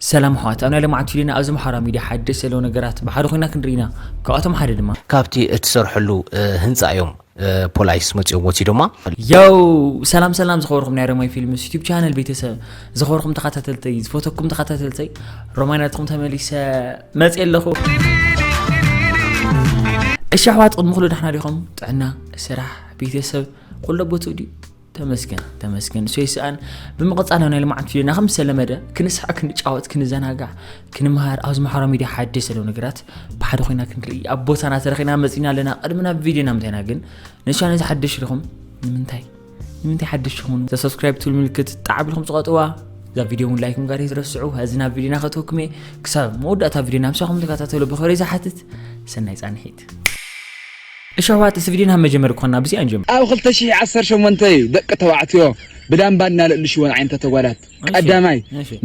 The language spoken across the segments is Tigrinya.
ሰላም ኣሕዋት ኣብ ናይ ለማዓንቲ ቪድዮና ኣብዚ ማሕበራዊ ሚድያ ሓደሽቲ ዘለዉ ነገራት ብሓደ ኮይና ክንርኢ ኢና ካብኣቶም ሓደ ድማ። ካብቲ እትሰርሐሉ ህንጻ እዮም ፖላይስ መጺኦም ወሲዶማ። ዮው ሰላም ሰላም ዝኸበርኩም ናይ ረማይ ፊልምስ ዩቲብ ቻነል ቤተሰብ ዝኸበርኩም ተኸታተልተይ ዝፈተኩም ተኸታተልተይ ረማይ ናትኩም ተመሊሰ መጽ ኣለኹ እሺ ኣሕዋት ቅድሚ ኩሉ ዳሕና ዲኹም ጥዕና ስራሕ ቤተሰብ ኩሎ ቦትኡ ድዩ ተመስገን ተመስገን ሰይ ሰኣን ብምቕፃልና ናይ ልምዓት ፊልና ከም ዝተለመደ ክንስሐ ክንጫወት ክንዘናጋዕ ክንምሃር ኣብዚ ማሕበራ ሚድያ ሓደሽ ዘለዉ ነገራት ብሓደ ኮይና ክንርኢ ኣብ ቦታና ተረኺና መፂና ኣለና ቅድሚ ናብ ቪድዮና ምታይና ግን ንሻነ እዚ ሓደሽ ዲኹም ንምንታይ ንምንታይ ሓደሽ ይኹኑ ተሰብስክራይብ ትብል ምልክት ጣዕ ብልኩም ፅቐጥዋ እዛ ቪድዮ እውን ላይክ ምጋር ይትረስዑ እዚ ናብ ቪድዮና ከተወክም እየ ክሳብ መወዳእታ ቪድዮና ምሳኹም ተከታተሉ ብክብሪ ዝሓትት ሰናይ ፃንሒት እሺ ኣሕዋት እስቲ ቪድዮና መጀመሪ ኮና ብዚኣ ንጀምር። ኣብ ክልተ ሽሕ ዓሰርተ ሸሞንተ እዩ ደቂ ተባዕትዮ ብዳምባ እናለእልሽወን ዓይነታት ኣጓላት ቀዳማይ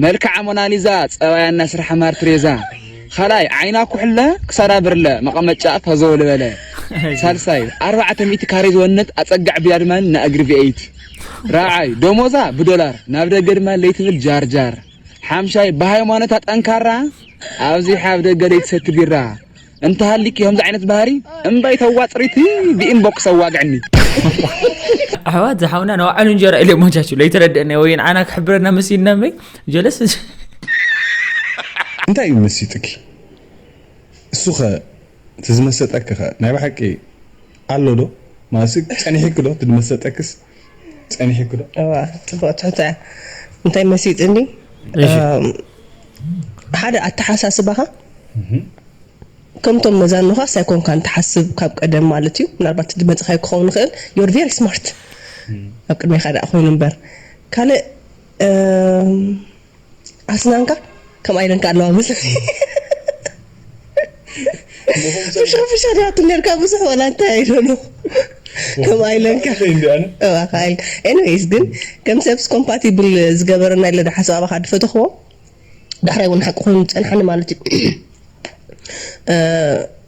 መልክዓ ሞናሊዛ ፀባያ እናስርሓ ማርትሬዛ ካልኣይ ዓይና ኩሕለ ክሳዳ ብርለ መቀመጫኣ ፋዞ ልበለ ሳልሳይ ኣርባዕተ ሚእቲ ካሬ ዝወነት ኣፀጋዕ ቢላ ድማ እና እግሪ ቪኤይቲ ራብዓይ ደሞዛ ብዶላር ናብ ደገ ድማ ለይትብል ጃርጃር ሓምሻይ ብሃይማኖታ ጠንካራ ኣብዚሓ ኣብ ደገ ለይትሰቲ ቢራ እንተሃሊኪ ከምዚ ዓይነት ባህሪ እምበይ ተዋፅሪቲ ብኢንቦክስ ኣዋግዕኒ ኣሕዋት ዝሓውና ንባዕሉ እንጀራ ኢለ ሞጃቹ ለይተረደአና ወይ ንዓና ክሕብረና መሲልና እምበይ ጀለስ እንታይ እዩ መሲጥኪ እሱኸ እቲ ዝመሰጠኪኸ ናይ ብሓቂ ኣሎዶ ማለት ጸኒሒኪዶ እቲ ዝመሰጠክስ ጸኒሒኩ ዶ? እዋ ጽቡቅ ትሕቶ እያ እንታይ መሲጥኒ ሓደ ኣተሓሳስባኻ ከምቶም መዛኖኻስ ኣይኮንካን ትሓስብ ካብ ቀደም ማለት እዩ ምናልባት እቲ ድመጽኻዮ ክኸውን ይኽእል ዮር ቬሪ ስማርት ኣብ ቅድሜኻ ደኣ ኮይኑ እምበር ካልእ ኣስናንካ ከም ኣይለንካ ኣለዋ ምስ ፍሽኽ ፍሽኽ ዲያቱ ነርካ ብዙሕ ወላ እንታይ ኣይደሎ ከም ኣይለንካ እባካ ኣይል ኤኒዌይስ ግን ከም ሰብስ ኮምፓቲብል ዝገበረና ኢለ ዶ ሓሳብ ኣባካ ድፈተኽዎ ዳሕራይ እውን ሓቂ ኮይኑ ዝፀንሓኒ ማለት እዩ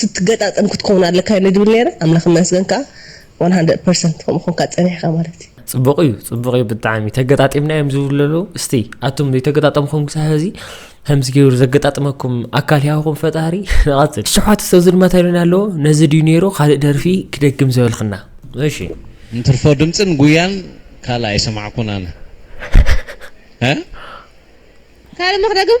ክትገጣጠም ክትከውን ኣለካ ኢለ ድብል ነይረ ኣምላክ ይመስገን ከኣ ዋን ሃንድረድ ፐርሰንት ከምኡ ኮንካ ጸኒሕካ ማለት እዩ። ጽቡቅ እዩ ጽቡቅ እዩ ብጣዕሚ ተገጣጢምና እዮም ዝብሉ ዘለዉ እስቲ ኣቱም ዘይተገጣጠምኩም ክሳብ ሕዚ ከምዚ ገይሩ ዘገጣጥመኩም ኣካል ያውኹም ፈጣሪ ንቐጽል ሸውዓተ ሰብ ዝድማ ታይሎና ኣለዎ ነዚ ድዩ ነይሩ ካልእ ደርፊ ክደግም ዘበልክና እሺ እንትርፎ ድምጽን ጉያን ካልእ ኣይሰማዕኩን ኣነ ካልእ ሞ ክደግም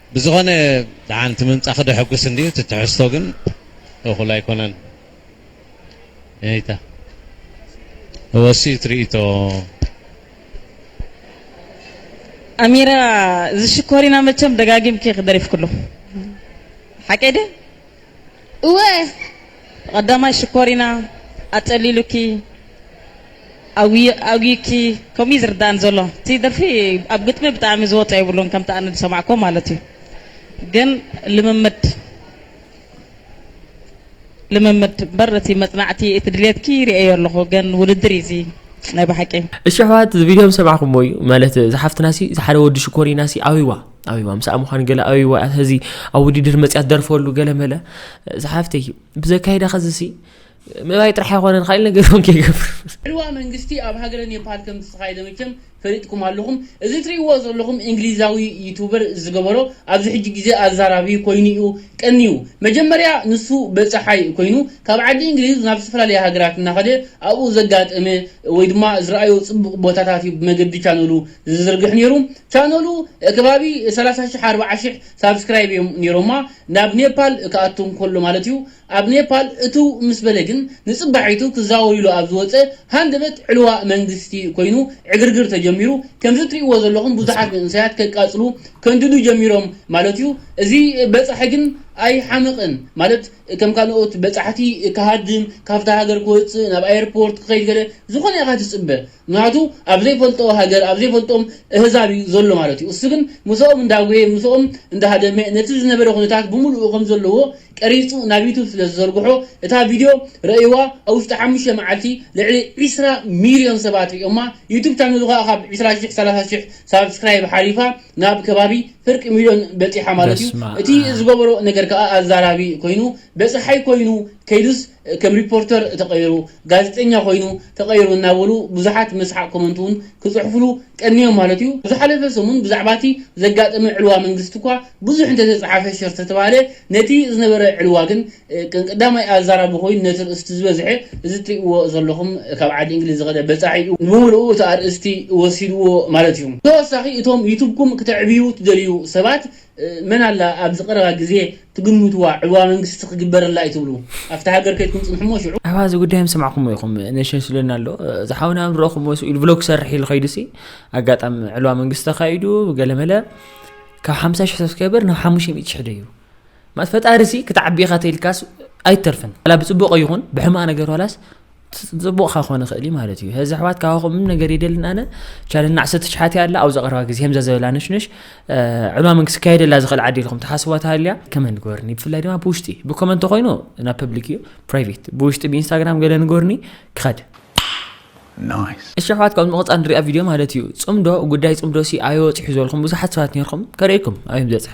ብዝኾነ ደሓን እቲ ምምጻኺ ደሐጉስ እንድዩ እቲ ትሕዝቶ ግን እኹል ኣይኮነን እይታ እወሲ እቲ ርእይቶ ኣሚረ እዚ ሽኮሪና መቸም ደጋጊምኪ ኢኺ ደሪፍክሉ ሓቀይ ድየ? እወ ቐዳማይ ሽኮሪና ኣጸሊሉኪ ኣጉይኪ ከምኡ እዩ ዝርዳኣኒ ዘሎ እቲ ደርፊ ኣብ ግጥሚ ብጣዕሚ ዝወጾ የብሉን ከምቲ ኣነ ዝሰማዕክዎ ማለት እዩ ግን ልምምድ ልምምድ እምበር እቲ መጽናዕቲ እቲ ድሌትኪ ሪኤዮ ኣለኹ ግን ውድድር እዩ እዚ ናይ ብሓቂ። እሺ ኣሕዋት እዚ ቪድዮ ምስ ሰማዕኩሞ እዩ ማለት እዛ ሓፍትናሲ እዛ ሓደ ወዲ ሽኮሪናሲ ኣበይዋ። ኣቢባ ምሳኣ ምዃን ገለ ኣቢባ እያ ሕዚ ኣብ ውድድር መፅያ ትደርፈሉ ገለ መለ ዝሓፍተይ ብዘካይዳ ከዝሲ ምባይ ጥራሕ ኣይኮነን ካልእ ነገር እውን ከይገብር ዕልዋ መንግስቲ ኣብ ሃገረ ኔፓል ከም ዝተኻየደ መቸም ፈሊጥኩም ኣለኹም እዚ ትሪእዎ ዘለኹም እንግሊዛዊ ዩቱበር ዝገበሮ ኣብዚ ሕጂ ግዜ ኣዛራቢ ኮይኑ እዩ ቀንዩ መጀመርያ ንሱ በጻሓይ ኮይኑ ካብ ዓዲ እንግሊዝ ናብ ዝተፈላለየ ሃገራት እናኸደ ኣብኡ ዘጋጠመ ወይ ድማ ዝረኣዮ ጽቡቕ ቦታታት እዩ ብመገዲ ቻነሉ ዝዝርግሕ ኔሩ ቻነሉ ከባቢ ሰላሳ ሽሕ ኣርብዓ ሽሕ ሳብስክራይብ እዮም ኔሮማ ናብ ኔፓል ክኣቱ እንከሎ ማለት እዩ ኣብ ኔፓል እትው ምስ በለ ግን ንጽባሒቱ ክዛወር ኢሉ ኣብ ዝወጸ ሃንደበት ዕልዋ መንግስቲ ኮይኑ ዕግርግር ተጀሚሩ ከምዚ እትርእይዎ ዘለኹም ብዙሓት መንእሰያት ከቃጽሉ ከንድዱ ጀሚሮም ማለት እዩ እዚ በጻሒ ግን ኣይሓምቕን ማለት ከም ካልኦት በጻሕቲ ክሃድም ካብታ ሃገር ክወጽእ ናብ ኣየርፖርት ክኸይድ ገለ ዝኾነ ኢኻ ትጽበ ምክንያቱ ኣብ ዘይፈልጦ ሃገር ኣብ ዘይፈልጦም እህዛብ እዩ ዘሎ ማለት እዩ እሱ ግን ምሶኦም እንዳጎየ ምሶኦም እንዳሃደመ ነቲ ዝነበረ ኩነታት ብሙሉኡ ከምዘለዎ ቀሪጹ ናብ ዩቱብ ስለዝዘርግሖ እታ ቪድዮ ረእይዋ ኣብ ውሽጢ ሓሙሽተ መዓልቲ ልዕሊ ዕስራ ሚልዮን ሰባት ሪኦማ ዩቱብ ቻነሉ ከኣ ካብ ዕስራ ሽሕ ሰላሳ ሽሕ ሳብስክራይብ ሓሊፋ ናብ ከባቢ ፍርቂ ሚልዮን በጺሓ ማለት እዩ እቲ ዝገበሮ ነገር ከኣ ኣዛራቢ ኮይኑ በጻሓይ ኮይኑ ከይዱስ ከም ሪፖርተር ተቐይሩ፣ ጋዜጠኛ ኮይኑ ተቐይሩ እናበሉ ብዙሓት መስሓቕ ኮመንት እውን ክጽሕፉሉ ቀንዮም ማለት እዩ። ኣብ ዝሓለፈ ሰሙን ብዛዕባ እቲ ዘጋጠመ ዕልዋ መንግስቲ እኳ ብዙሕ እንተተጽሓፈ ሸር ተተባህለ ነቲ ዝነበረ ዕልዋ ግን ከም ቀዳማይ ኣዛራቢ ኮይኑ ነቲ ርእስቲ ዝበዝሐ እዚ እትርእይዎ ዘለኹም ካብ ዓዲ እንግሊዝ ዝኸደ በጻሒ እዩ ንብምሉኡ እቲ ኣርእስቲ ወሲድዎ ማለት እዩ። ብተወሳኺ እቶም ዩቱብኩም ክተዕብዩ ትደልዩ ሰባት መን ኣላ ኣብዚ ቀረባ ግዜ ትግምትዋ ዕልዋ መንግስቲ ክግበረላ እዩ ትብሉ ኣብቲ ሃገር ከይድኩም ጽንሑ እሞ ሽዑ ኣባ እዚ ጉዳይ ምስማዕኩሞ ኢኹም ነሽነሽ ዝብለና ኣሎ እዚ ሓውና ም ረኹሞ ስኡ ኢሉ ብሎግ ክሰርሕ ኢሉ ከይዱ ሲ ኣጋጣሚ ዕልዋ መንግስቲ ተኻይዱ ገለመለ ካብ ሓምሳ ሽሕ ሰብስክራይበር ናብ ሓሙሽተ ሚእቲ ሽሕ ደዩ ማለት ፈጣሪ ሲ ክትዓቢ ኢኻ ተኢልካስ ኣይተርፍን ዋላ ብጽቡቕ ይኹን ብሕማቕ ነገር ዋላስ ጽቡቅ ካኾነ ኸእል ማለት እዩ ዚ ኣሕዋት ካባኹም ምን ነገር የደልን ኣነ ቻለና ዓሰርተ ትሽሓት ኣላ ኣብዛ ቀረባ ግዜ ከምዛ ዘበላ ነሽነሽ ዕማምን ክስካየደላ ዝኽእል ዓዲ ኢልኩም ተሓስቧ ተሃልያ ከመ ንገርኒ ብፍላይ ድማ ብውሽጢ ብኮመንት ኮይኑ ናብ ፐብሊክ እዩ ፕራይቬት ብውሽጢ ብኢንስታግራም ገለ ንገርኒ ክኸድ እሺ ኣሕዋት ካብ ምቕፃል ንሪኣ ቪድዮ ማለት እዩ ፅምዶ ጉዳይ ፅምዶ ሲ ኣዮ ፅሑ ዝበልኩም ብዙሓት ሰባት ነርኩም ከርእኩም ኣዮም ዘፅሐ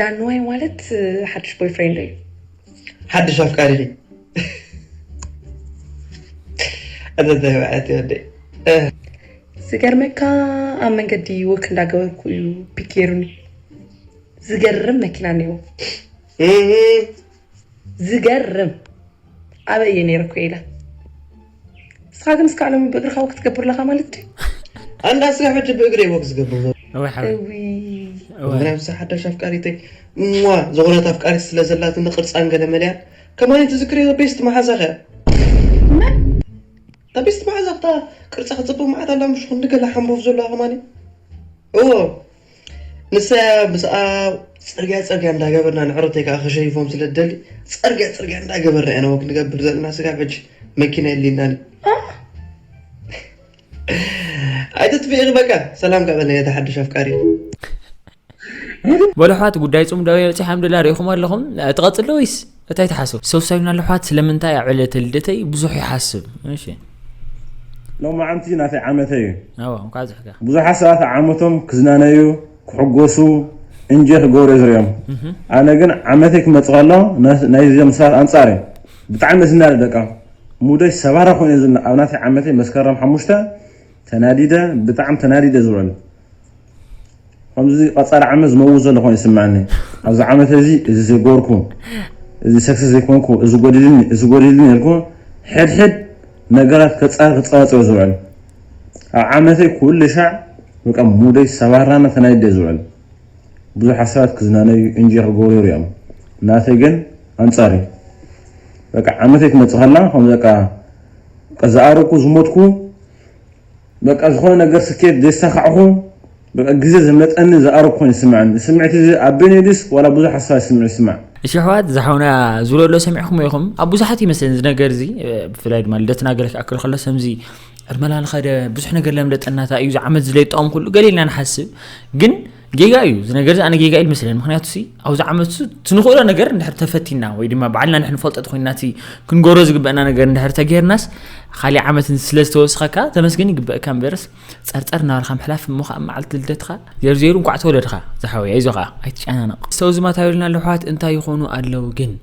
ዳንዋይ ማለት ሓድሽ ቦይፍሬንድ እዩ ሓድሽ ኣፍቃሪ እዩ ኣዘታይ በዓት ይወደይ ዝገርመካ ኣብ መንገዲ ወክ እንዳገበርኩ እዩ ፒክ ገይሩኒ ዝገርም መኪና ነይሩ ዝገርም ኣበይ እየ ነይረኩ ኢለ ንስኻ ግን እስካዕ ሎሚ ብእግርኻ ወክ ትገብር ኣለኻ ማለት ድዩ ኣንዳ ስጋ ሕጂ ብእግሪ ወክ ዝገብር ምክንያቱ ሓዳሽ ኣፍቃሪተይ እሞ ዝኾነት ኣፍቃሪ ስለ ዘላትኒ ቅርፃን ገለ መለያ ከማን ትዝክር ቤስት መሓዛ ከያ እታ ቤስት መሓዛ ክታ ቅርፃ ክፅብቅ መዓት ኣላ ምሽ ክንዲ ገለ ሓምቦፍ ዘለዋ ከማን እዎ ንሳ ምስኣ ጽርግያ ጽርግያ እንዳገበርና ንዕረተይ ከኣ ከሸይፎም ስለ ትደሊ ጽርግያ ጽርግያ እንዳገበርና ኢና ወክ ንገብር ዘለና ስጋብ ሕጂ መኪና የድልየናን ኣይትጥፍኢ በቃ ሰላም ካብ ነየተ ሓድሽ ኣፍቃሪ ወደ ኋት ጉዳይ ጹም ዳዊ ርጺ ሓምድላ ሪኢኹም ኣለኹም ትቐጽሎ ወይስ እታይ ትሓስብ ሰው ሳዩና ልሓት ስለምንታይ ኣብ ዕለተ ልደተይ ብዙሕ ይሓስብ እሺ ሎማዓንቲ ናተይ ዓመተይ እዩ ኣዎ እንኳዕ ዝሕካ ብዙሓት ሰባት ኣብ ዓመቶም ክዝናነዩ ክሕጎሱ እንጆይ ክገብሩ እየ ዝሪኦም ኣነ ግን ዓመተይ ክመፅእ ከሎ ናይዞም ሰባት ኣንፃር እዩ ብጣዕሚ ዝናደ ደቃ ሙደይ ሰባራ ኮይኑ እየ ዝና ኣብ ናተይ ዓመተይ መስከረም ሓሙሽተ ተናዲደ ብጣዕሚ ተናዲደ ዝውዕል ከምዚ ቀጻሊ ዓመት ዝመውት ዘሎ ኮይኑ ይስምዓኒ ኣብዚ ዓመት እዚ እዚ ዘይገበርኩ እዚ ሰክሰስ ዘይኮንኩ እዚ ጎዲልኒ እዚ ጎዲልኒ ኢልኩ ሕድሕድ ነገራት ከጻሪ ክጸባጸብ ዝውዕል ኣብ ዓመተይ ኩሉ ሻዕ በቃ ሙደይ ሰባራና ተናይደ ዝውዕል ብዙሓት ሰባት ክዝናነዩ እንጆይ ክገብሩ ይሪኦም ናተይ ግን ኣንጻር እዩ በቃ ዓመተይ ትመጽእ ከላ ከምዚ በቃ ዝኣረኩ ዝሞትኩ በቃ ዝኾነ ነገር ስኬት ዜሳኻዕኹ በቃ ግዜ ዘምለጠኒ ዝኣረግ ኮይኑ ይስምዐኒ እዚ ስምዒት እዚ ኣቢኒ ድዩስ ዋላ ብዙሕ ኣስፋይ ስምዒት ይስማዕ። እሺ ኣሕዋት እዛ ሓውና ዝብለሎ ሰሚዕክሞ ኢኹም ኣብ ብዙሓት ይመስለኒ እዚ ነገር እዚ ብፍላይ ድማ ልደትና ገለ ክኣክል ከሎ ሰምዚ ዕድመና ንኸደ ብዙሕ ነገር ለምለጠናታ እዩ ዝዓመት ዝለይጣኦም ኩሉ ገሌልና ንሓስብ ግን ጌጋ እዩ እዚ ነገር ኣነ ጌጋ ኢል መስለን ምክንያቱ ሲ ኣብዚ ዓመት ትንኽእሎ ነገር እንድሕር ተፈቲና ወይ ድማ ባዕልና ንሕን ፈልጠት ኮይና እቲ ክንገሮ ዝግበአና ነገር እንድሕር ተገይርናስ ካሊእ ዓመት ስለ ዝተወስኸካ ተመስገን ይግበእካ እምበርስ ፀርፀር እናበልካ ምሕላፍ እሞ ከዓ መዓልቲ ልደትካ ዜርዜሩ እንኳዕ ተወለድካ ዝሓወይ ኣይዞኻ ኣይትጨናነቕ ሰው ዝማታዊልና ኣለሕዋት እንታይ ይኾኑ ኣለው ግን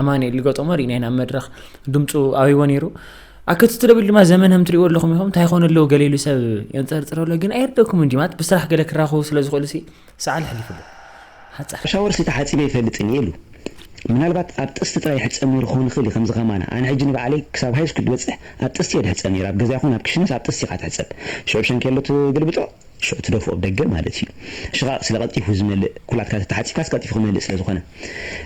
ኣማኒኤል ገጦሞ ሪኢናዮ ናብ መድረኽ ድምፁ ኣብይዎ ነይሩ ኣከቲ ትደብል ድማ ዘመን ከም ትሪእዎ ኣለኹም ኢኹም እንታይ ኮነ ኣለዎ ገሌሉ ሰብ የንፀርፅር ኣሎ ግን ኣየርደኩም እንዲ ማለት ብስራሕ ገለ ክራኸቡ ስለ ዝኽእሉ ሲ ሰዓል ሕሊፍሉ ሓፃር ሻወርሲ ተሓፂበ ኣይፈልጥን እየ ኢሉ። ምናልባት ኣብ ጥስቲ ጥራይ ይሕፀብ ነይሩ ክኸውን ይኽእል እዩ ከምዚ ከማና። ኣነ ሕጂ ንባዕለይ ክሳብ ሃይስኩል ዝበፅሕ ኣብ ጥስቲ እየ ዝሕፀብ ነይሩ። ኣብ ገዛ ይኹን ኣብ ክሽነስ ኣብ ጥስቲ ኢኻ ትሕፀብ። ሽዑ ብሻንኬሎ ትግልብጦ ሽዑ ትደፍኦ ብ ደገ ማለት ኢዩ። ሽቓቕ ስለ ቀልጢፉ ዝመልእ ኩላትካ ተተሓጺብካስ ቀልጢፉ ክመልእ ስለ ዝኾነ።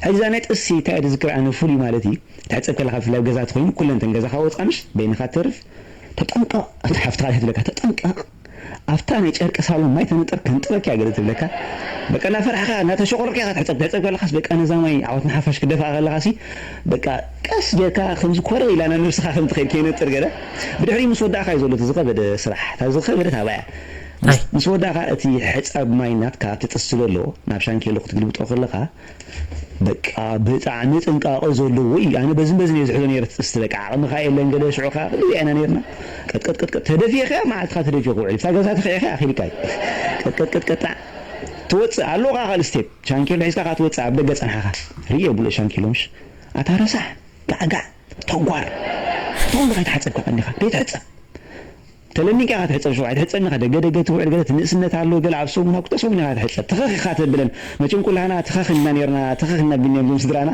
ሕጂ እዛ ናይ ጥርሲ ታይ እየ ድዝክር ኣነ ፍሉይ ማለት ኢዩ ትሕጸብ ከለኻ ብፍላይ ብ ገዛ ተኾይኑ ኩለን እተን ገዛኻ ወጽኣ ምሽ በይንኻ ትተርፍ። ተጠንቀቕ እታ ሓፍትኻ እያ ትብለካ ተጠንቀቕ ኣብታ ናይ ጨርቂ ሳሎን ማይ ተነጥር ከንጥረኪ እያ ገለ ትብለካ በቃ እንዳፈራሕካ እንዳተሸቖረርካ ኢኻ ትሕጸብ ትሕጸብ ከለኻስ በቃ ነዛ ማይ ዓወት ንሓፋሽ ክትደፍኣ ከለኻሲ በቃ ቀስ ጌርካ ከምዚ ኮረው ኢላ ናብ ነብስኻ ከም ትኸይድ ከይነጥር ገለ ብድሕሪኡ ምስ ወዳእካ'ዩ ዘሎ እቲ ዝኸበደ ስራሕ እታ ዝኸበደት ኣብኣ'ያ ምስ ምስ ወዳእካ እቲ ሕጻብ ማይ ናትካ ኣብቲ ጥስቲ ዘሎ ናብ ሻንኬሎ ክትግልብጦ ከለኻ በቃ ብጣዕሚ ጥንቃቐ ዘለዎ ኢዩ ኣነ በዝን በዝን ኢየ ዝሕዞ ኔረ እቲ ጥስቲ በቃ ዓቕምኻ የለን ገለ ሽዑ ከኣ ክንደይ ኢና ኔርና ቀጥቀጥቀጥቀጥ ተደፊእካ'ያ መዓልትኻ ተደፊኡ ክውዕል እታ ገዛ ተኺዕካ'ያ ኣኺልካ'ዩ ቀጥቀጥቀጥቀጣ ትወጽእ ኣሎኻ ካልእ ስቴፕ ሻንኬሎ ሒዝካ ከኣ ትወጽእ ኣብ ደገ ጸንሓኻ ርእዮ ብሎ ሻንኬሎ ምሽ ኣታ ረሳሕ ጋዕጋዕ ቶጓር ታይ ኢልካ ኣይትሓፀብ ካብ ቀንዲካ ከይትሕፀብ ተለሚንካ ኢካ ትሕፀብ ሽዑ ኣይትሕፀብን ኢካ ደገ ደገ ትውዕል ገለ ትንእስነት ኣሎ ገለ ኣብ ሰሙን ኣብ ክልተ ሰሙን ኢካ ትሕፀብ ትኽኽ ኢካ ተብለን መቸም ኩላህና ትኸኽ ኢልና ነይርና ትኸኽ ኢልና ቢኒያም ዞም ስድራና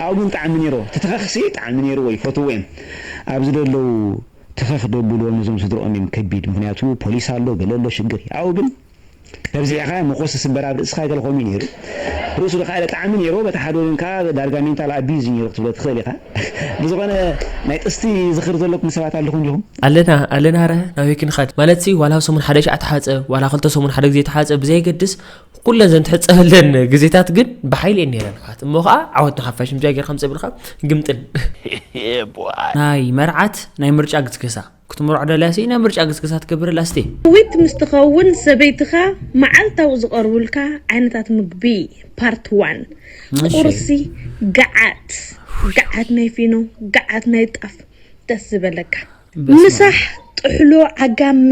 ኣብኡ ግን ጣዕሚ ነይርዎ እቲ ትኸኽ ሲ ጣዕሚ ነይርዎ ይፈትውዎ እዮም ኣብዚ ደለው ትኸኽ ደብልዎም ነዞም ስድርኦም እዮም ከቢድ ምክንያቱ ፖሊስ ኣሎ ገለ ኣሎ ሽግር እዩ ኣብኡ ግን ተብዚዕኻ ሞኾስ ዝስበር ኣብ ርእስኻ ገለ ኮሚዩ ነይሩ ርእሱ ድኻ ጠዓሚ ነይርዎ በቲ ሓደ ወገን ከኣ ዳርጋ ሜንታል ኣቢዩዝ እዩ ነይሩ ክትብሎ ትኽእል ኢኻ ብዝኾነ ናይ ጥስቲ ዝኽሪ ዘለኩም ሰባት ኣለኹም ዲኹም? ኣለና ኣለና ኣረ ናበይ ክንኸድ ማለትሲ ዋላ ሰሙን ሓደ ሻዕ ትሓጸብ ዋላ ክልተ ሰሙን ሓደ ግዜ ትሓጸብ ብዘየገድስ ኩለን ዘን ትሕጸበለን ግዜታት ግን ብሓይሊ እየን ነይረን ኣሕዋት እሞ ከኣ ዓወት ንሓፋሽ ምጃ ጌርካ ምጸብልካ ግምጥል ናይ መርዓት ናይ ምርጫ ግስገሳ ክትምርዖ ደልያ ስኢነ ምርጫ ግስግሳ ትገብረላ እስቲ። ዊት ምስ ትኸውን ሰበይትኻ መዓልታዊ ዝቐርቡልካ ዓይነታት ምግቢ ፓርት ዋን እሺ ቁርሲ ገዓት ገዓት ናይ ፊኖ ገዓት ናይ ጣፍ ደስ ዝበለካ እሺ በስመኣብ ምሳሕ ጥሕሎ ዓጋመ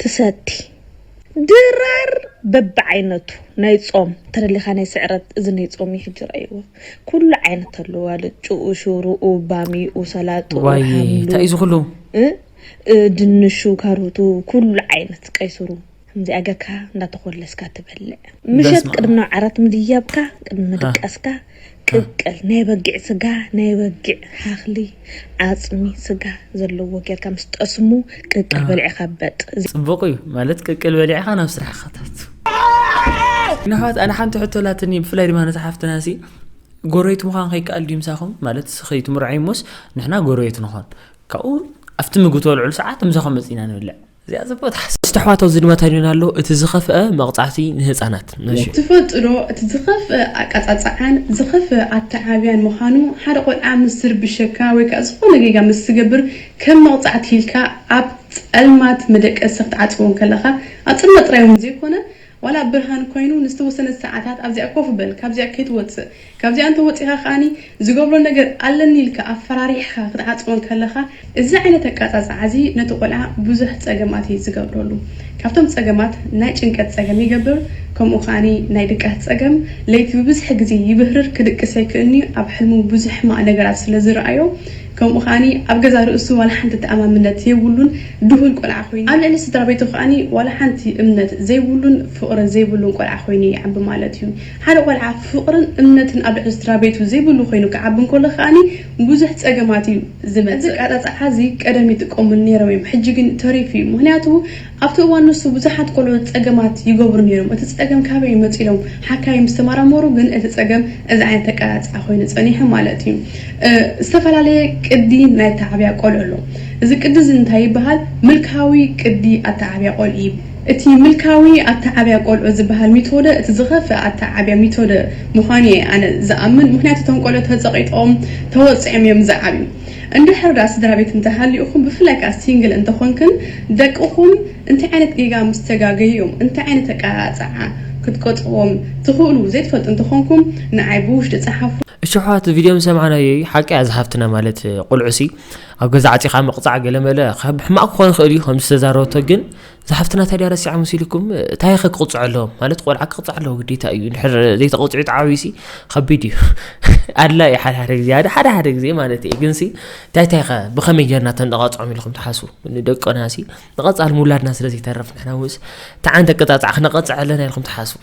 ትሰቲ። ድራር በብዓይነቱ ናይ ጾም ተደሊካ ናይ ስዕረት እዚ ናይ ጾም እዩ ሕጂ ረኣይዎ ኩሉ ዓይነት ኣለዎ ኣልጭኡ ሽሩኡ ባሚኡ ሰላጥኡ ዋይ ሓምሉ ታይ እዩ ዝኩሉ። እ እ ድንሹ ካሩቱ ኩሉ ዓይነት ቀይሱሩ ከምዚኣ ገርካ እንዳተኮለስካ ትበልዕ ምሸት በስመኣብ። ቅድሚ ናብ ዓራት ምድያብካ ቅድሚ ምድቃስካ ቅቅል ናይ በጊዕ ስጋ ናይ በጊዕ ሃክሊ ዓጽሚ ስጋ ዘለዎ ጌርካ ምስ ጠስሙ ቅቅል በሊዕካ በጥ እዚ። ጽቡቅ እዩ ማለት ቅቅል በሊዕካ ናብ ስራሕካ ታቱ። ግን ኣሕዋት ኣነ ሓንቲ ሕቶ ኣላትኒ ብፍላይ ድማ ነታ ሓፍትና ሲ ጎረቤት ምዃን ከይከኣል ድዩ ምሳኹም ማለት ከይትምርዐይ ሞስ ንሕና ጎረቤት ንኾን ካብኡ ኣብቲ ምግቢ ተበልዕሉ ሰዓት ምሳኹም መፂና ንብልዕ እዚኣ ጽብቕቲ ሓሳብ ምስቲ ኣሕዋት ኣብዚ ድማ ተሪና ኣሎ እቲ ዝኸፍኣ መቕጻዕቲ ንህጻናት። ነሹ። ትፈልጡ ዶ እቲ ዝኸፍኣ ኣቀጻጽዓን ዝኸፍኣ ኣተዓብያን ምኻኑ ሓደ ቆልዓ ምስ ዝርብሸካ ወይ ከኣ ዝኾነ ጌጋ ምስ ዝገብር ከም መቕጻዕቲ ኢልካ ኣብ ጸልማት መደቀሲ ክትዓጽዎ እንከለኻ ኣብ ጽልመት ጥራይ ውን ዘይኮነ ዋላ ብርሃን ኮይኑ ንዝተወሰነት ሰዓታት ኣብዚኣ ኮፍ በል ካብዚኣ ከይትወጽእ ካብዚኣ እንተ ወጺኻ ከኣ ዝገብሮ ነገር ኣለኒ ኢልካ ኣፈራሪሕኻ ክትዓጽዎ እንከለኻ እዚ ዓይነት ኣቃጻጽዓ እዚ ነቲ ቆልዓ ብዙሕ ጸገማት እዩ ዝገብረሉ ካብቶም ጸገማት ናይ ጭንቀት ጸገም ይገብር ከምኡ ከኣ ናይ ድቃስ ጸገም ለይቲ ብብዝሒ ግዜ ይብህርር ክድቅስ ኣይክእልንዩ ኣብ ሕልሙ ብዙሕ ሕማቅ ነገራት ስለ ዝረኣዮ ከምኡ ከኣ ኣብ ገዛእ ርእሱ ዋላ ሓንቲ ተኣማምነት ዘይብሉን ድሁል ቆልዓ ኮይኑ ኣብ ልዕሊ ስድራቤቱ ከኣ ዋላ ሓንቲ እምነት ዘይብሉን ፍቕሪ ዘይብሉን ቆልዓ ኮይኑ ይዓቢ ማለት እዩ። ሓደ ቆልዓ ፍቕርን እምነትን ኣብ ልዕሊ ስድራቤቱ ዘይብሉ ኮይኑ ክዓቢ እንከሎ ከኣ ብዙሕ ጸገማት እዩ ዝመጽእ። እዚ ኣቀጻጽዓ'ዚ ቀደም ይጥቀሙሉ ነይሮም እዮም ሕጂ ግን ተሪፉ እዩ ምኽንያቱ ኣብቲ እዋን ንሱ ብዙሓት ቆልዑ ጸገማት ይገብሩ ነይሮም። እቲ ጸገም ካበይ እዩ መጺኡ ኢሎም ሓካይም ምስ ተመራመሩ ግን እቲ ጸገም እዚ ዓይነት ኣቀራርጻ ኮይኑ ጸኒሑ ማለት እዩ። ዝተፈላለየ ቅዲ ናይ ኣተዓብያ ቆልዑ ኣሎ። እዚ ቅዲ እዚ እንታይ ይበሃል? ምልካዊ ቅዲ ኣተዓብያ ቆልዑ ይብ። እቲ ምልካዊ ኣተዓብያ ቆልዑ ዝበሃል ሚቶደ እቲ ዝኸፍእ ኣተዓብያ ሚቶደ ምዃኑ እየ ኣነ ዝኣምን። ምኽንያቱ እቶም ቆልዑ ተጸቒጦም ተወጺዖም እዮም ዝዓብዩ። እንድሕር ድኣ ስድራቤት እንተሃሊኡኩም ብፍላይ ከኣ ሲንግል እንተኮንክን ደቅኩም እንታይ ዓይነት ጌጋ ምስ ተጋገዩ'ዮም እንታይ ዓይነት ኣቀራርጻዓ ክትቀጽዎም ትክእሉ ዘይትፈልጡ እንተኮንኩም ንዓይ ብውሽጢ ጸሓፉ። እሺ ኣሕዋት ቪድዮ ምስ ሰማዕናዮ እዩ ሓቂ እያ እዛ ሓፍትና ማለት ቁልዑ ሲ ኣብ ገዛ ዓጺኻ ምቕጻዕ ገለመለ ካብ ሕማቕ ክኾን ይኽእል እዩ ከምዚ ዝተዛረበቶ ግን እዛ ሓፍትና ታዲያ ረሲዓ መሲልኩም እንታይ ኸ ክቕፅዖ ኣለዎ ማለት ቆልዓ ክቕፅዕ ኣለዎ ግዴታ እዩ ንድሕር ዘይተቐፅዑ ተዓብዩሲ ከቢድ እዩ ኣድላ እዩ ሓደ ሓደ ግዜ ሓደ ሓደ ግዜ ማለት እዩ ግንሲ እንታይ እንታይ ኸ ብኸመይ ጌርና ተንቐፅዖም ኢልኩም ትሓስቡ ንደቅናሲ ንቐፃሊ ምውላድና ስለ ዘይተርፍ ንሕና ውስ ተዓንተ ቅጣፃዕ ክነቐፅዕ ኣለና ኢልኩም ትሓስቡ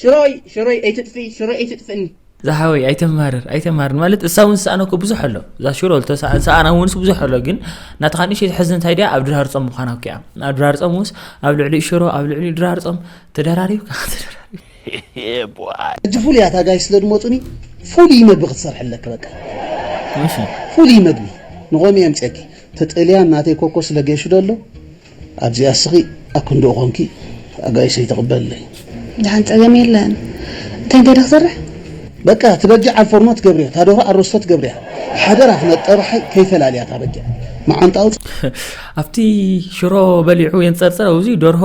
ሽሮይ ሽሮይ ኣይትጥፍኢ ሽሮይ ኣይትጥፍእኒ ዝሓወይ ኣይተማርር ኣይተማርር ማለት እሳ እውን ዝሰኣነ እኮ ብዙሕ ኣሎ እዛ ሽሮ ሰኣና እውንስ ብዙሕ ኣሎ ግን ናትኻ ንእሽተይ ትሕዝ እንታይ ድያ ኣብ ድራር ፆም ምዃና እኮ እያ ኣብ ድራር ፆም ውስ ኣብ ልዕሊ ሽሮ ኣብ ልዕሊ ድራር ፆም ተደራሪብካ ሕጂ ፍሉይ እያ እታ ጋይ ስለ ድመፁኒ ፍሉይ መግቢ ክትሰርሐለኪ በቃ ፍሉይ መግቢ ንቆሚ እየ ምፅአኪ ተጠልያ ናተይ ኮኮ ስለ ገይሹ ደሎ ኣዚኣ ስቂ ኣክንድኡ ኮንኪ ኣጋይሸይ ተቀበልለይ። ድሓን ጸገም የለን እንታይ እንታይ ዶ ክሰርሕ። በቃ እቲ በጊዕ ኣብ ፎርኖ ትገብርዮ እታ ደርሆ ኣሮስቶ ትገብርያ ሓደራ ክነጠባሓይ ከይፈላልያ እታ በጊዕ መዓንጣ ኣውጽ። ኣብቲ ሽሮ በሊዑ የንጸርጽር ኣውዚ ደርሆ።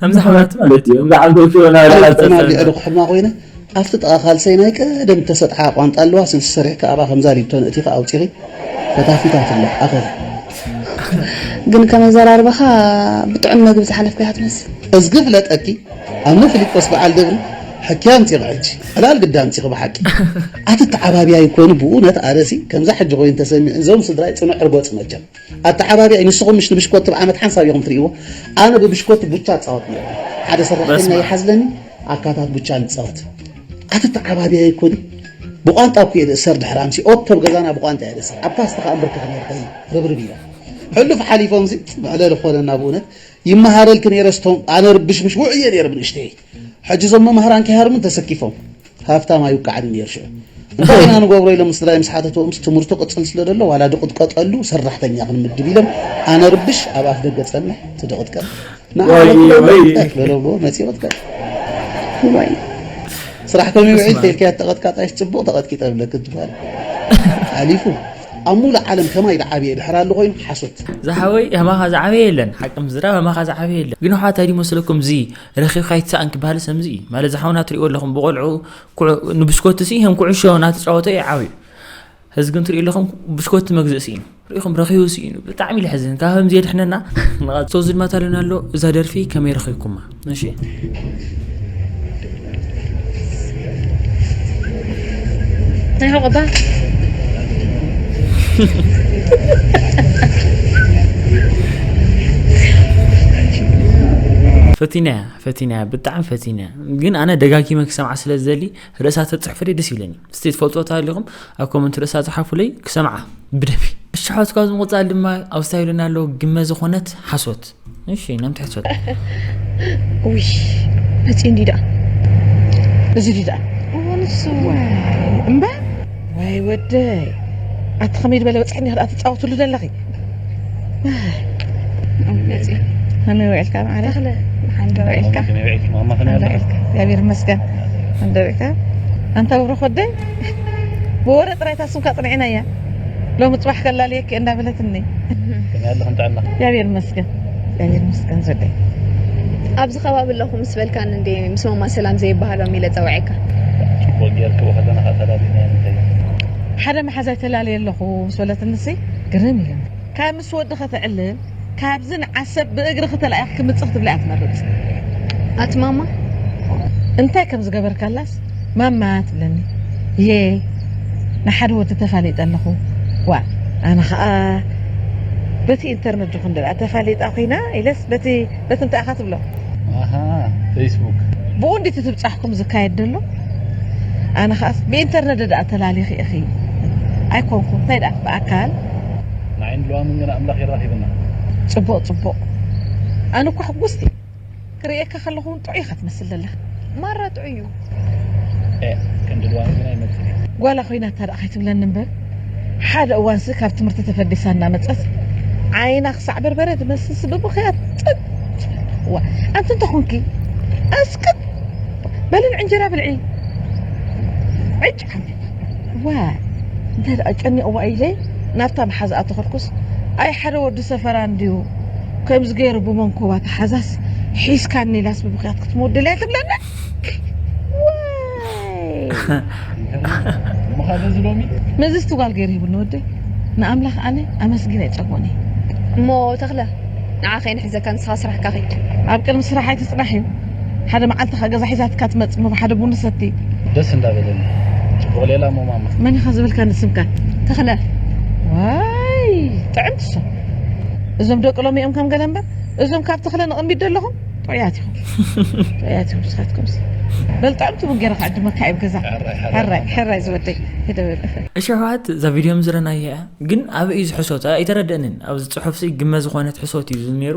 ከምዚ ሓማት ማለት እዩ እምበዓል ጎፊዮ ናብ ላዕሊ ቁና ተሰሪዑ። ጌዕሪ ክሕማ ኮይነ ኣብቲ ጥቓ ካልሰይ ናይ ቀደም እተሰጥሓ ቋንጣ ኣለዋ ስልሲ ሰሪሕኪ ኣብኣ ከምዛ ሊብቶ ነእቲኺ ኣውጺኺ ፈታፊታት ኣሎ ኣኸኺ። ግን ከም ኣዘራርባኻ ብጥዑም መግቢ ዝሓለፍካ ኢኻ ትመስል። እዝጊ ፍለጠኪ ኣነ ፍሊጶስ በዓል ደብሪ ሕኪ ኣምጺኺ ሕጂ ዕላል ግዲ ኣምጺኺ ብሓቂ ኣትተዓባብያይ ኮይኑ ብኡነት ኣነሲ ከምዛ ሕጂ ኮይኑ ተሰሚዑኒ እዞም ስድራይ ጽኑዕ ርጎጽ መቸም። ኣተዓባብያይ ንስኹም ምሽ ንብሽኮቲ ብ ዓመት ሓንሳብ ኢኹም ትርእይዎ ኣነ ብብሽኮቲ ቡቻ እጻወት ኔረ ሓደ ሰራሕተኛ ይሓዝለኒ ኣካታት ቡቻ ንጻወት ኣቲ ተዓባብያይ እኮ ዲ ብቋንጣ እኮ እየ ዝእሰር ድሕሪ ኣምሲ ኦቶ ብ ገዛና ብቋንጣ እየ ዝእሰር ኣብ ፓስታ ከኣ እንብርከኽ ኔረ ከይ ርብርብ ኢለ ሕሉፍ ሓሊፎምሲ መዕለሊ ኮነና ብእውነት ይመሃረልኪ ኔረ ስቶም ኣነ ርብሽምሽ ውዑይ እየ ኔረ ብንእሽተየይ ሕጂ እዞም መማህራን ከይሃርሙ ተሰኪፎም ሃፍታም ኣይውቃዕን ነይሩ ሽዑ እንታይ ኢና ንገብሮ ኢሎም ምስ ስድራይ ምስ ሓተትዎምስ ትምህርቱ ቅጽል ስለ ዘሎ ዋላ ድቕጥቀጠሉ ሰራሕተኛ ክንምድብ ኢሎም ኣነርብሽ ኣብ ኣፍ ደገ ጸንሕ ትድቕጥቀጥ ንዓበሎም በለዎ መጺ ቅጥቀጥ ስራሕ ከም ውዒል ተልካያ ተቐጥቃጣሽ ጽቡቕ ተቐጥቂጠ ብለክ ትባል ሓሊፉ ኣብ ሙሉ ዓለም ከማይ ዝዓበየ ድሕር ኣሎ ኮይኑ ሓሶት ዝሓወይ ከማኻ ዝዓበየ የለን ሓቂ ምዝራብ ከማኻ ዝዓበየ የለን ግን ኣሕዋት ኣይዲመስለኩም እዚ ረኪብካ ኣይትሰኣን ክበሃል ሰምዚ እዩ ማለት ዝሓውና ትሪእዎ ኣለኹም ብቆልዑ ንብስኮት ሲ ከም ኩዕሾ እናተፃወተ እዩ ዓብዩ ህዚ ግን ትሪኡ ኣለኹም ብስኮት መግዝእ ስኢኑ ሪኢኹም ረኪቡ ስኢኑ ብጣዕሚ ልሕዝን ካብ ከምዚ የድሕነና ንቐሶ ዝድማት ኣለና ኣሎ እዛ ደርፊ ከመይ ረኪብኩማ እሺ ናይ ሕቆ እባ ፈቲናያ ፈቲናያ ብጣዕሚ ፈቲናያ ግን ኣነ ደጋጊመ ክሰምዓ ስለ ዝደሊ ርእሳ ተፅሕፉለይ ደስ ይብለኒ እስቲ ትፈልጥዎ ተሃሊኹም ኣብ ኮመንት ርእሳ ፅሓፉለይ ክሰምዓ ብደፊ እሽሖት ካብዚ ምቕፃል ድማ ኣብ ስታይልና ኣለዉ ግመ ዝኾነት ሓሶት እሺ ነም ትሕት ሰጥ ውይ ነፂ እንዲ ደኣ እዚ ዲ ደኣ ንሱ እምባ ወይ ወደይ ኣቲ ከመይ ዝበለ በፅሒ እኒ ክኣ ትፃወትሉ ዘለኺ ነፂ ከመይ ውዒልካ ማዕረ ተኽለ መሓን ዶ ውዒልካ ከመይ ውዒልኪ ማማ ከመይ ኣለኺ ውዒልካ እግዚኣብሔር ይመስገን እንዶ ውዒልካ ኣንታ ብሩኽ ወደይ ብወረ ጥራይ እታ ስምካ ኣፅንዒና እያ ሎሚ ጽባሕ ከላልየኪ እንዳበለትኒ ከመያለኽን ጥዕና እግዚኣብሔር ይመስገን እግዚኣብሔር ይመስገን ዘደይ ኣብዚ ከባቢ ኣለኹ ምስ በልካን እንዴ ምስ ማማ ሰላም ዘይበሃሎም ኢለ ጸውዐካ ጽቡቅ ጌርኪ ወኸለና ከኣ ተላሊና እንተ ሓደ መሓዛይ ተላልየ ኣለኹ ምስ በለትኒ ሲ ግርም ኢለኒ ምስ ወዲ ከተዕልል ካብዚ ንዓሰብ ብእግርኺ ተላኢኺ ክምጽ ክትብሊ እያ ትመርጽ ኣቲ ማማ እንታይ ከም ዝገበርካላስ ማማ ትብለኒ እዬ ንሓደ ወዲ ተፋሊጠ ኣለኹ ዋእ ኣነ ኸኣ በቲ ኢንተርነት ዲኹ እንደ ተፋሊጣ ኮይና ኢለስ በቲ በቲ እንታይ ኢኻ ትብሎ ኣሃ ፈይስቡክ ብኡ እንዲቲ ትብጻሕኩም ዝካየድ ደሎ ኣነ ኸኣስ ብኢንተርነት ደኣ ተላሊኺ ኢኺ ኣይኮንኩ እንታይ ደኣ ብኣካል ንዓይን ሉዋምን ግን ኣምላኽ የራኺብና። ጽቡቕ ጽቡቕ ኣነ እኳ ሕጉስቲ እየ ክርእየካ ከለኹ ውን ጥዑይ ኢኻ ትመስል ዘለኻ ማራ ጥዑይ እዩ። ኤእ ክንዲ ሉዋም ግን ኣይመጽን እዩ። ጓላ ኮይና እታ ደኣ ከይትብለኒ እምበር ሓደ እዋንሲ ካብ ትምህርቲ ተፈዲሳ እናመጸት ዓይና ክሳዕ በርበረ ዝመስልሲ ብምኽያድ ጽጥ እዋ ኣንቲ እንታይ ኮንኪ ኣስክት በሊ ንዕንጀራ ብልዒ ዕጭ እወ እንታይ ደኣ ጨኒቕዋ ኢለ ናብታ መሓዝኣ ተኸድኩስ፣ ኣይ ሓደ ወዲ ሰፈራ እንድዩ ከምዚ ገይሩ ብመንኮባ ተሓዛስ ሒዝካኒ ኢላስ ብብኽያት ክትምውደል'ያ ትብለኒ። ምዝቲ ጓል ገይሩ ሂቡኒ ወደይ ንኣምላኽ ኣነ ኣመስጊነ ኣይጸግቦን እየ። እሞ ተኽለ ንዓ ከይንሕዘካ ንስኻ ስራሕካ ኺድ። ኣብ ቅድሚ ስራሕ ኣይትጽናሕ እዩ። ሓደ መዓልቲ ከኣ ገዛ ሒዛትካ ትመጽ እሞ ሓደ ቡን ንሰቲ። ደስ እንዳ በለኒ ጽቡቅ ሌላ እሞ ማማ። መን ኢኻ ዝበልካኒ ስምካ? ተኽለ። ዋይ ጥዕምቲ እሶ እዞም ደቂ ሎሚ እዮም ከም ገለ እምበር እዞም ካብ ተኽለ ንቕድሚት ዘለኹም ጥዑያት ኢኹም ጥዑያት ኢኹም ንስኻትኩምስ በል ጥዕምቲ ቡን ገይረ ክዕድመካ እየ ገዛ ሕራይ ሕራይ ዝወደይ ሂደበል እሸዋት እዛ ቪድዮ ምዝረናያ ግን ኣበይ እዩ ዝሕሶት ኣይተረደእንን ኣብዚ ፅሑፍሲ ግመ ዝኾነት ሕሶት እዩ ነይሩ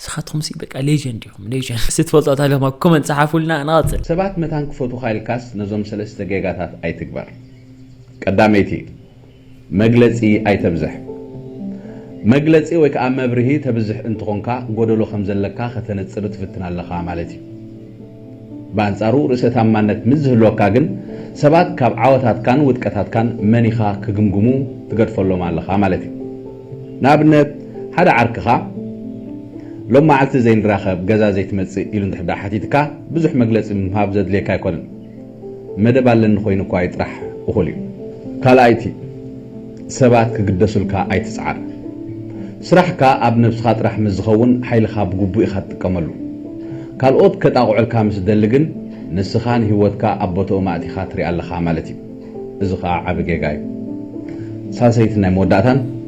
ንስኻትኩም ሲ በቃ ሌጀንድ ኢኹም ሌጀንድ ስትፈልጦ እታ ገማ ኮመንት ጸሓፉልና ንቐጽል። ሰባት መታን ክፈትዉኻ ኢልካስ ነዞም ሰለስተ ጌጋታት ኣይትግበር። ቀዳመይቲ፣ መግለጺ ኣይተብዝሕ። መግለጺ ወይ ከኣ መብርሂ ተብዝሕ እንትኾንካ ጎደሎ ከምዘለካ ከተነጽር ትፍትን ኣለኻ ማለት እዩ። ብኣንጻሩ ርእሰ-ታማነት ምስ ዝህልወካ ግን፣ ሰባት ካብ ዓወታትካን ውድቀታትካን መን ኢኻ ክግምግሙ ትገድፈሎም ኣለኻ ማለት እዩ። ንኣብነት ሓደ ዓርክኻ ሎም መዓልቲ ዘይንራኸብ፣ ገዛ ዘይትመጽእ ኢሉ እንድሕር ደኣ ሓቲትካ ብዙሕ መግለጺ ምሃብ ዘድልየካ ኣይኮነን። መደብ ኣለኒ ኮይኑ እኳ ይጥራሕ እኹል እዩ። ካልኣይቲ፣ ሰባት ክግደሱልካ ኣይትጽዓር። ስራሕካ ኣብ ነብስኻ ጥራሕ ምስ ዝኸውን ሓይልኻ ብግቡእ ኢኻ ትጥቀመሉ። ካልኦት ከጣቕዑልካ ምስ ዝደሊ ግን ንስኻ ንህይወትካ ኣብ ቦትኦም ኣእቲኻ ትሪኣ ኣለኻ ማለት እዩ። እዚ ከኣ ዓቢ ጌጋ እዩ። ሳልሰይትን ናይ መወዳእታን፣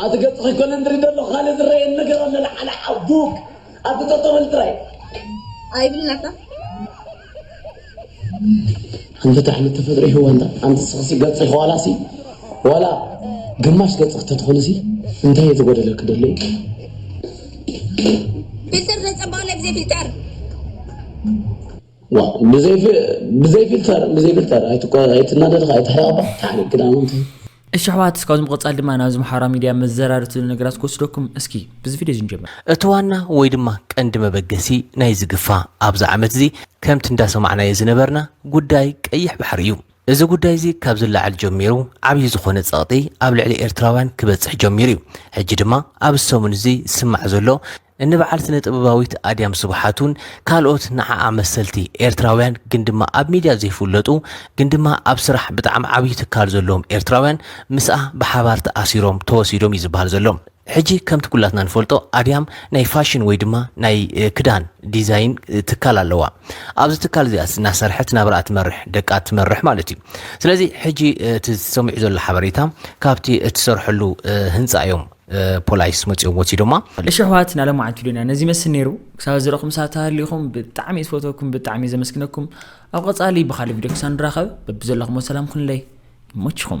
ኣቲ ገጽኺ ኮለንድሪ ደሎ ካልእ ዝረየን ነገር ኣሎ ለዓለ ሓቡብ ኣቲ ጠጠበል ጥራይ ኣይብልን ኣታ ኣንቲ ጣዕሚ ተፈጥሮ ይህዋ እንዳ ኣንቲ ስኽሲ ገጽኺ ዋላሲ ዋላ ግማሽ ገጽኺ ተትኾንሲ እንታይ እየ ዝጎደለኪ ደሎ እዩ ፊልተር ዘጸባቕ ናይ ብዘይ ፊልተር ዋእ ብዘይ ፊልተር ብዘይ ፊልተር ኣይትናደድ ኸኣ ኣይትሕረቕ እባ ታዕሪቕ ግዳም እንታይ እሺ ኣሕዋት እስካብ ዝምቐጻል ድማ ናብዚ ማሕበራዊ ሚድያ መዘራሪ ትብሉ ነገራት ክወስደኩም እስኪ ብዚ ቪድዮ ዝንጀምር እቲ ዋና ወይ ድማ ቀንዲ መበገሲ ናይዚ ግፋ ኣብዚ ዓመት እዚ ከምቲ እንዳሰማዕናዮ ዝነበርና ጉዳይ ቀይሕ ባሕሪ እዩ። እዚ ጉዳይ እዚ ካብ ዝለዓል ጀሚሩ ዓብዪ ዝኾነ ጸቕጢ ኣብ ልዕሊ ኤርትራውያን ክበጽሕ ጀሚሩ እዩ። ሕጂ ድማ ኣብዚ ሰሙን እዚ ዝስማዕ ዘሎ እኒ በዓል ስነ ጥበባዊት ኣድያም ስብሓቱን ካልኦት ንዓኣ መሰልቲ ኤርትራውያን ግን ድማ ኣብ ሚድያ ዘይፍለጡ ግን ድማ ኣብ ስራሕ ብጣዕሚ ዓብዪ ትካል ዘለዎም ኤርትራውያን ምስኣ ብሓባር ተኣሲሮም ተወሲዶም እዩ ዝበሃል ዘሎ። ሕጂ ከምቲ ኩላትና ንፈልጦ ኣድያም ናይ ፋሽን ወይ ድማ ናይ ክዳን ዲዛይን ትካል ኣለዋ። ኣብዚ ትካል እዚኣስ እናሰርሐት ናብራኣ ትመርሕ ደቃ ትመርሕ ማለት እዩ። ስለዚ ሕጂ እቲ ዝሰሚዑ ዘሎ ሓበሬታ ካብቲ እትሰርሐሉ ህንፃ እዮም ፖላይስ መጺኦም ወሲዶማ። እሺ ኣሕዋት ናለማዓንቲ ዶንያ ነዚ ይመስል ነይሩ ክሳብ ዝረኹ ምሳት ተሃሊኹም ብጣዕሚ ዝፈተኩም ብጣዕሚ ዘመስግነኩም ኣብ ቐጻሊ ብኻልእ ቪድዮ ክሳብ ንራኸብ በብዘለኹሞ ሰላም ኩንለይ ይመችኹም።